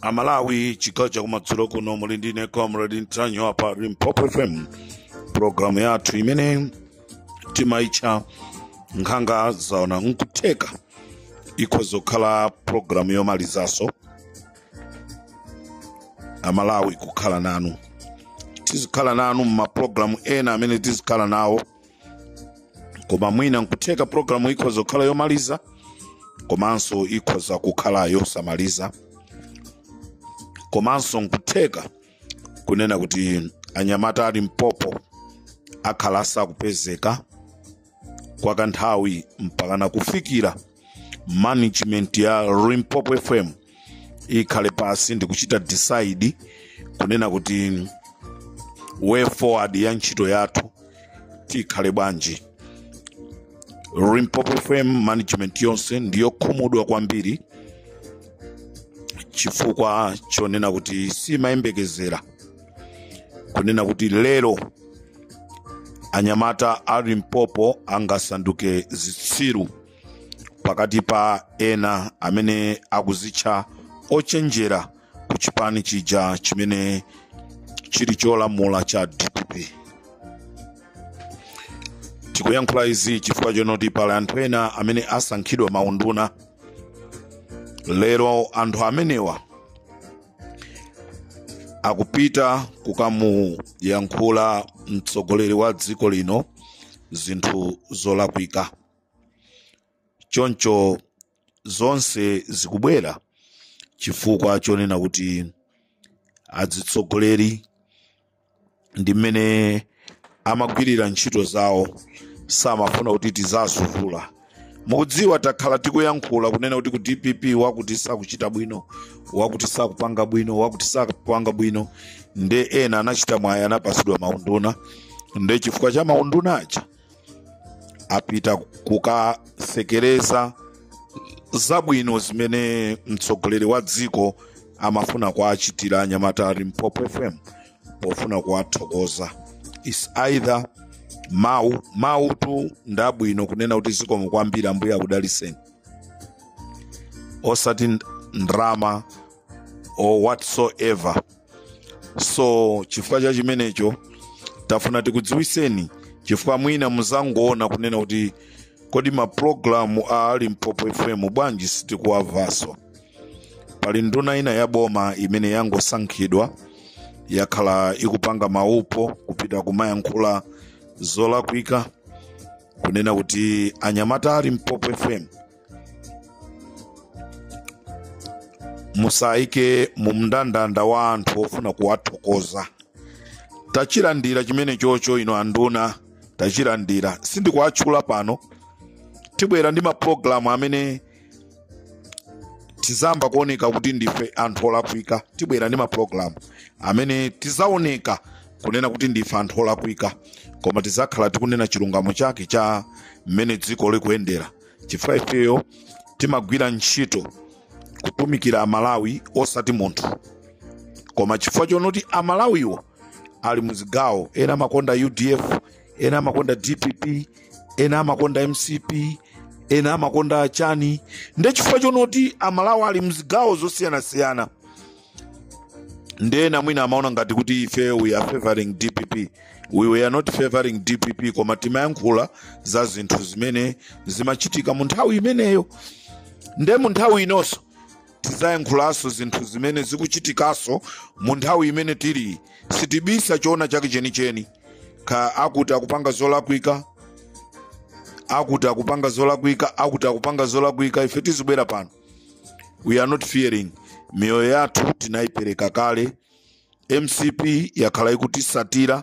amalawi chigawo chakumadzulo kuno muli ndine comrade ntanyiwa pa limpopo fm programu yathu imene timaitcha nkhanga zaona nkutheka ikhoza kukhala programu yomalizanso amalawi kukhala nanu tizikhala nanu mumapulogalamu ena amene tizikhala nawo koma mwina nkutheka programu ikhoza kukhala yomaliza komanso ikhoza kukhala yosamaliza komanso nkutheka kunena kuti anyamata a limpopo akhala asakupezeka kwa kanthawi mpakana kufikira management ya limpopo fm ikhale pansi ndikuchita decide kunena kuti way forward ya ntchito yathu ikhale bwanji limpopo fm management yonse ndiyokhumudwa kwambiri chifukwa chonena kuti simayembekezera kunena kuti lero anyamata a limpopo angasanduke zitsiru pakati pa ena amene akuzitcha ochenjera ku chipani chija chimene chili cholamula cha dpp tikuyankhula izi chifukwa chonoti pali anthu ena amene asankhidwa maunduna lero anthu amenewa akupita kukamuyankhula mtsogoleri wa dziko lino zinthu zolakwika choncho zonse zikubwera chifukwa chonena kuti azitsogoleri ndi mmene amagwirira ntchito zawo samafuna kuti tizawavula mukudziwa takhala tikuyankhula kunena kuti ku dpp wakuti sakuchita bwino wakuti sakupanga bwino wakuti sakupanga bwino nde ena anachita mwayi anapatsidwa maunduna nde chifukwa cha maunduna aja apita kukatsekereza zabwino zimene mtsogoleri wa dziko amafuna kuwachitira anyamata a limpopo fm pofuna kuwathokoza is either mawu mawutu ndabwino kunena kuti zikomo kwambiri ambuye akudalitseni osati ndrama or whatsoever so chifukwa cha chimenecho tafuna tikudziwitseni chifukwa mwina muzangoona kunena kuti kodi mapulogalamu a limpopo fm bwanji sitikuwamvanso pali nduna ina ya boma imene yangosankhidwa yakhala ikupanga maupo kupita kumayankhula zolakwika kunena kuti anyamata a limpopo fm musayike mu mndandanda wa anthu ofuna kuwathokoza tachilandira chimene chocho ino anduna tachilandira sindikuwatchula pano tibwera ndi mapulogalamu amene tizayamba kuoneka kuti ndife anthu olakwika tibwera ndi mapulogalamu amene tizaoneka kunena kuti ndife anthu olakwika koma tizakhala tikunena chilungamo chake cha mmene dziko likuyendera chifukwa ifeyo timagwira ntchito kutumikira amalawi osati munthu koma chifukwa chonoti amalawiwo ali muzigawo ena amakonda udf ena amakonda dpp ena amakonda mcp ena amakonda achani nde chifukwa chonoti amalawi ali mzigawo zosiyanasiyana nde ena mwina amaona ngati kuti ife we are favoring dpp we were not favoring dpp koma timayankhula za zinthu zimene zimachitika mu nthawi imeneyo nde mu nthawi inonso tizayankhulanso zinthu zimene zikuchitikanso mu nthawi imene tili sitibisa choona chake chenicheni ka akuti akupanga zolakwika akuti akupanga zolakwika akuti akupanga zolakwika ife tizibwera pano we are not fearing miyoyo yathu tinayipereka kale mcp yakhala ikutisatira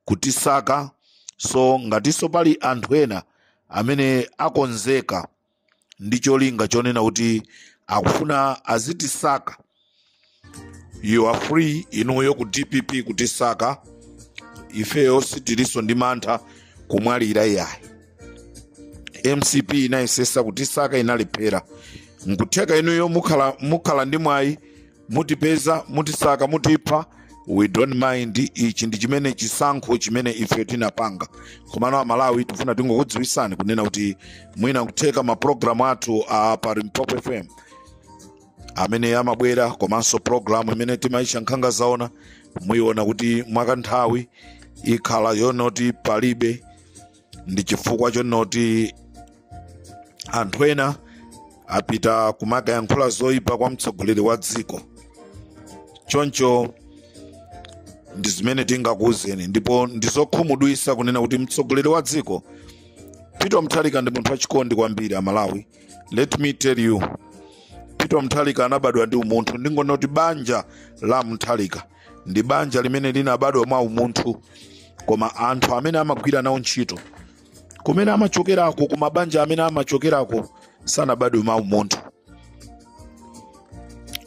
kutisaka so ngatinso pali anthu ena amene akonzeka ndi cholinga chonena kuti akufuna azitisaka you are free inuyo ku dpp kutisaka ifeyo sitilinso ndi mantha kumwalira iyayi mcp inayesesa kutisaka inalephera nkutheka inuyo mukhala ndi mwayi mutipeza mutisaka mutipha we don't mind ichi ndi chimene chisankho chimene ifeyo tinapanga komano amalawi tifuna tingokudziwisani kunena kuti mwina kutheka mapulogalamu athu a pa limpopo fm amene amabwera komanso programu imene timayitcha nkhanga zaona muyiona kuti mwakanthawi ikhala yonoti palibe ndi chifukwa chonoti anthu ena apita kumakayankhula zoyipa kwa mtsogoleri wa dziko choncho ndi zimene tingakuwuzeni ndipo ndizokhumudwisa kunena kuti mtsogoleri wa dziko peter mutharika ndi munthu wachikondi kwambiri amalawi let me tell you peter mutharika anabadwa ndi umunthu ndingonena kuti banja la mutharika ndi banja limene linabadwa mwa umunthu koma anthu amene amagwira nawo ntchito kumene amachokerako ku mabanja amene amachokerako sanabadwe mwa umunthu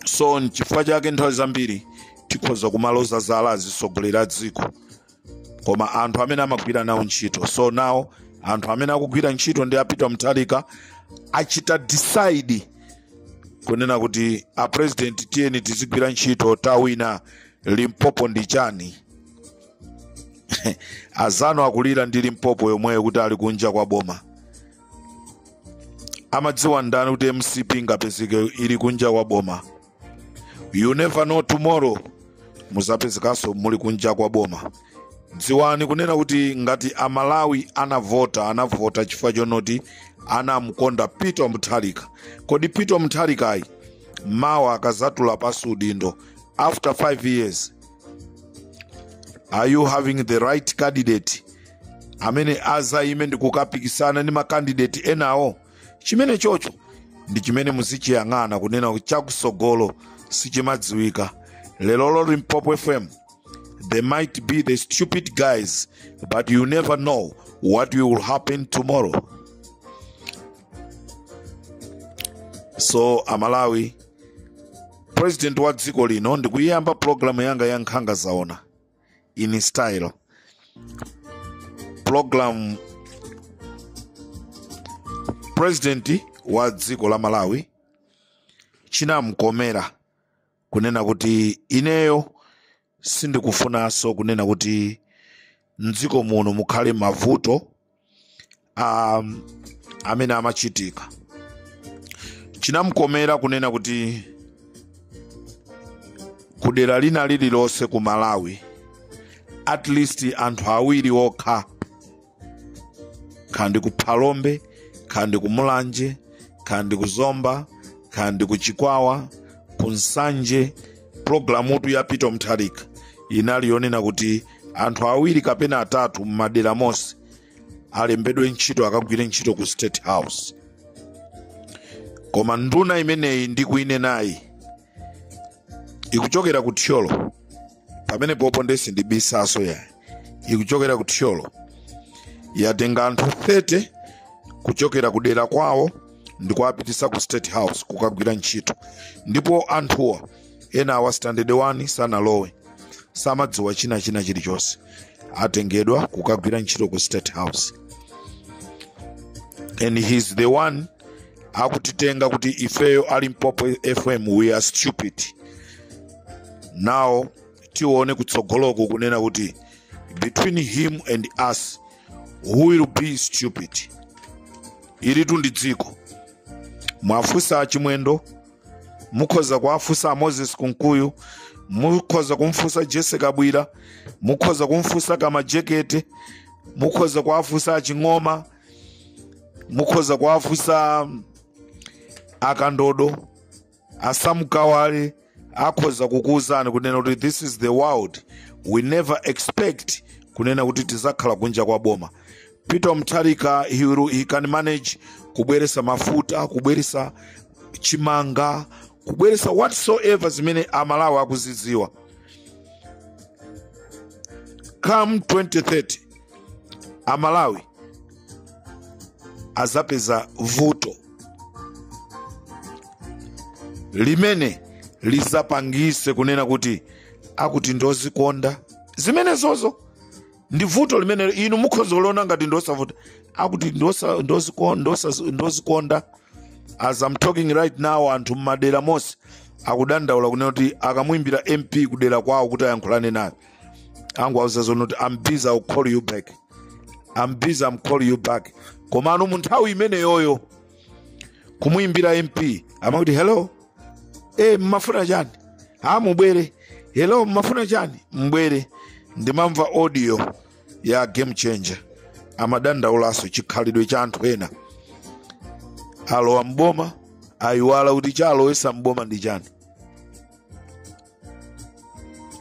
so nchifukwa chake nthawi zambiri tikhoza kumaloza zala azitsogoleri a dziko koma anthu amene amagwira nawo ntchito so nawo anthu amene akugwira ntchito ndi a peter mutharika achita decide kunena kuti a president tiyeni tizigwira ntchito tawina limpopo ndi chani azanu akulira ndi limpopo yomweyo kuti ali kunja kwa boma amadziwa ndani kuti mcp ingapezeke ili kunja kwa boma you never know tomorrow muzapezekanso muli kunja kwa boma dziwani kunena kuti ngati amalawi anavota anavota chifukwa chonoti anamkonda peter mutharika kodi peter mutharikayu mawa akazatula pansi udindo after 5 years are you having the right candidate amene azayime ndi kukapikisana ndi makandidate enawo chimenechocho ndi chimene muzichiyang'ana kunena kuti chakusogolo sichimadziwika leroli limpopo fm they might be the stupid guys but you never know what will happen tomorrow so amalawi president wa dziko lino ndikuyiyamba pulogalamu yanga ya nkhanga zaona in style program president wa dziko la malawi chinamkomera kunena kuti ineyo sindikufunanso kunena kuti mdziko muno mukhale mavuto um, amene amachitika chinamkomera kunena kuti kudera lina lililonse ku malawi at least anthu awiri okha kandi ku phalombe kandi ku mulanje kandi ku zomba kandi ku chikwawa ku nsanje pulogalamutu ya peter mutharika inali yonena kuti anthu awiri kapena atatu m'madera monse alembedwe ntchito akagwire ntchito ku state house koma nduna imeneyi ndikuinenayi ikuchokera ku thyolo pamenepopo ndesi sindibisanso yayi ikuchokera ku thyolo yatenga anthu 30 kuchokera ku dera kwawo ndi kuwapitisa ku state house kukagwira ntchito ndipo anthuwa enawa standard 1 sanalowe samadziwa chinachina chilichonse atengedwa kukagwira ntchito ku state house and he's the one akutitenga kuti ifeyo a limpopo fm we are stupid now tione kutsogoloku kunena kuti between him and us who will be stupid ilitu ndi dziko muwafunse achimwendo mukhoza kuwafunsa amoses kunkuyu mukhoza kumfunsa jese kabwira mukhoza kumfunsa kamajekete mukhoza kuwafunsa aching'oma mukhoza kuwafunsa akandodo asam kawale akhoza kukuwuzani kunena kuti this is the world we never expect kunena kuti tizakhala kunja kwa boma peter mutharika he, will- he can manage kubweresa mafuta kubweresa chimanga kubweresa whatsoever zimene amalawi akuziziwa come 2030 amalawi azapeza vuto limene lizapangise kunena kuti akuti ndozikonda zimenezozo ndi vuto limene inu mukhoza kuliona ngati ndosavuta akuti ndosa- ndoziko- ndosa- ndozikonda as I'm talking right now anthu mmadera monse akudandaula kunena kuti akamuimbira mp kudera kwawo kuti ayankhulane naye akuwauza zonena kuti am busy I'll call you back am busy am call you back komano mu nthawi imeneyoyo kumuimbira mp amati hello e mmafuna chani a mubwere hello mmafuna chani mbwere ndimamva audio ya game changer amadandaulanso chikhalidwe cha anthu ena alowa mboma ayiwala kuti chalowesa mboma ndi chani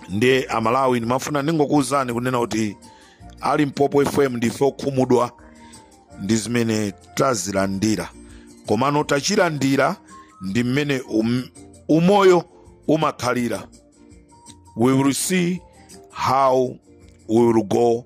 ndiye amalawi ndimafuna ndingokuwuzani kunena kuti a limpopo fm ndife okhumudwa ndi zimene tazilandira komano tachilandira ndi mmene um, umoyo umakhalira we will see how we will go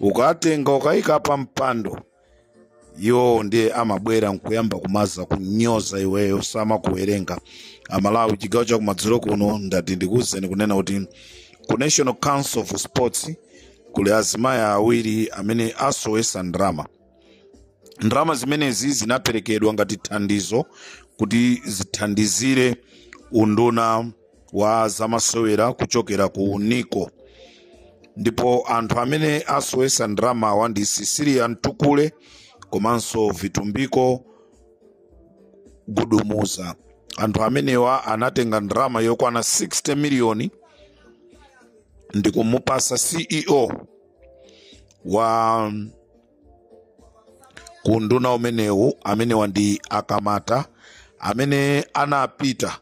ukatenga ukayika pa mpando iwowo ndiye amabwera nkuyamba kumaza kunyoza iweyo samakuwerenga amalawi chigawo chakumadzulo kuno ndati ndikuwuzeni kunena kuti ku national council of sports kuli azimayi awiri amene asowesa ndalama ndalama zimenezi zinaperekedwa ngati thandizo kuti zithandizire unduna wa zamasewera kuchokera ku nico ndipo anthu amene asowesa ndalamawa ndi sisilia mtukule komanso vitumbiko gubuduza anthu amenewa anatenga ndalama yokwana 60 miliyoni ndi kumupasa ceo wa kunduna umenewu amenewa ndi akamata amene anapita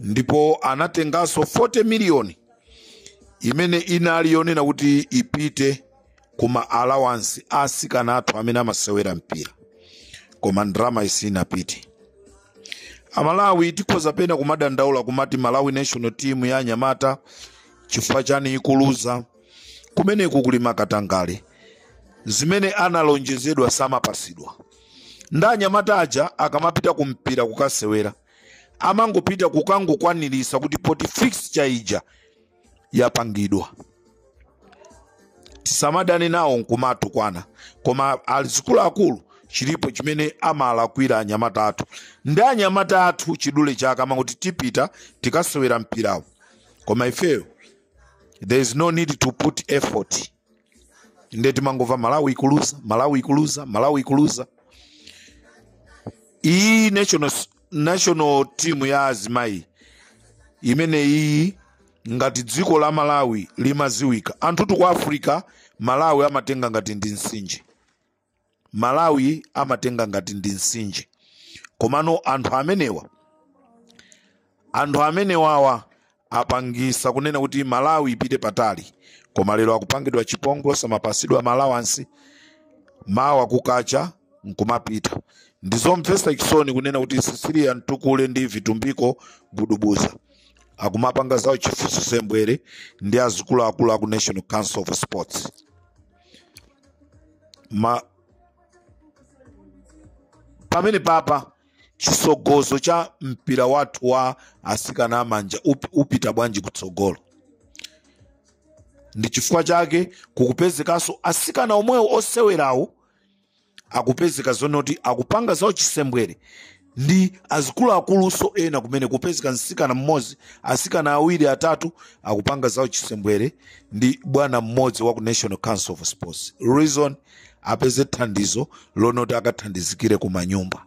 ndipo anatenganso 40 miliyoni imene inali yonena kuti ipite ku ma allowance a asikana athu amene amasewera mpira koma ndalama sinapite amalawi tikhoza pena kumadandaula kumati malawi national team ya anyamata chifukwa chani ikuluza kumene kukuli makatangale zimene analonjezedwa samapasidwa nde anyamata aja akamapita ku mpira kukasewera amangopita kukangokwaniritsa kuti poti fixture ija yapangidwa tisamadane nawo nkumatukwana koma azikuluakulu chilipo chimene amalakwira anyamata athu ndi anyamata athu chidule chake amangoti tipita tikasewera mpirawo koma ifeyo there is no need to put effort nde timangomva malawi ikuluza malawi ikuluza malawi ikuluza iyi national, national team ya azimayi imene iyi ngati dziko la malawi limaziwika anthu tu kuti africa malawi amatenga ngati ndi msinje malawi amatenga ngati ndi msinje komano anthu amenewa anthu amenewawa apangisa kunena kuti malawi ipite patali koma lero akupangidwa chipongwe samapasidwa ma allowance mawa kukacha nkumapita ndizomvesa chisoni kunena kuti cecilia mtukule ndi vitumbiko gudubuza akumapanga za uchifu uchisembwere ndi azikuluakulu aku national council of sports ma pamenepapa chisogozo cha mpira wathu wa asikana amanja upita bwanji kutsogolo ndi chifukwa chake kukupezekanso asikana omwewo osewerawo akupezeka zonoti akupanga za uchisembwere ndi azikuluakulunso ena kumene kupezeka msikana mmodzi asikana awiri atatu akupanga za uchisembwere ndi bwana mmodzi wa ku national council of sports reason apeze thandizo lonoti akathandizikire ku manyumba